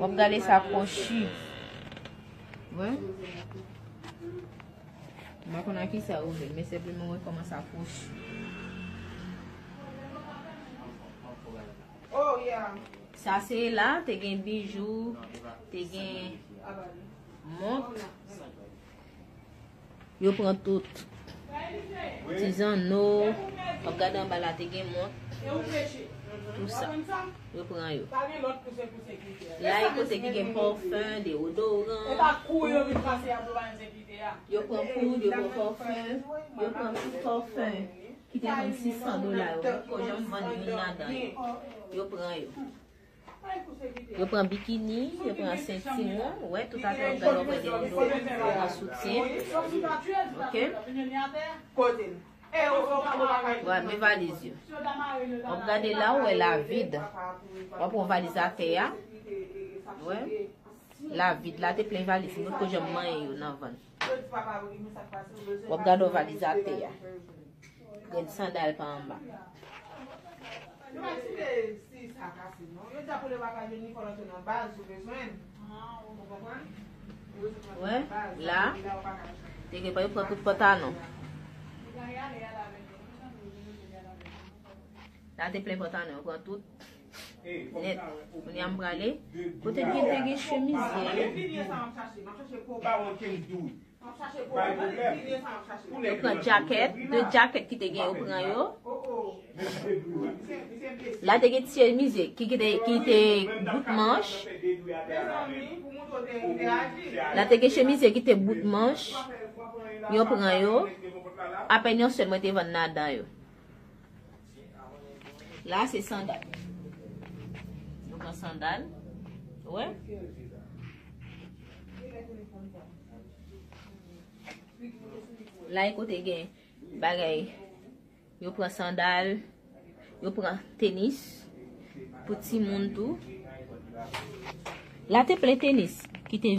Wap gade sa krochi. Wè. Mwen kon a ki sa ouvè. Mwen se pli mwen kon a sa krochi. Oh yeah. Sa se la te gen bijou. Te gen mont. Yo pran tout. Ti zanno. Wap gade anba la te gen mont. Tout sa. Yo pran yo. La e kote ki gen parfum, deodorant. Yo pran poud, yo pran parfum. Yo pran tout parfum. Ki te vann 600 dola yo. Yo pran yo. Yo pran bikini, yo pran sentiwon, wè tout a fè yo pran gen rido, yo pran soutyen, ok. Wè men valiz yo. Wè ap gade la ou wè la vid. Wè ap wè valiz a tè a. Wè. La vid la te plen valiz. Mwen poko janm manyen yo nan van. Wap gad yon valiz ate ya. Gen sandal pa anba. Wè la. Te gen pa yo pran tout pantalon. La te plen pantalon yo pran tout. Net Kounye a m prale Kote gen te gen chemiz ye Yo pran jacket De jacket ki te gen yo pran yo La te gen ti chemiz ye Ki te bout manch La te gen chemiz ye ki te bout manch Yo pran yo Apèn yon sèl mwen te vann ladan yo La se sandal. Nou pran sandal. Wè. La e kote gen bagay. Yo pran sandal. Yo pran tenis. Pou ti moun tou. La te ple tenis. Ki te.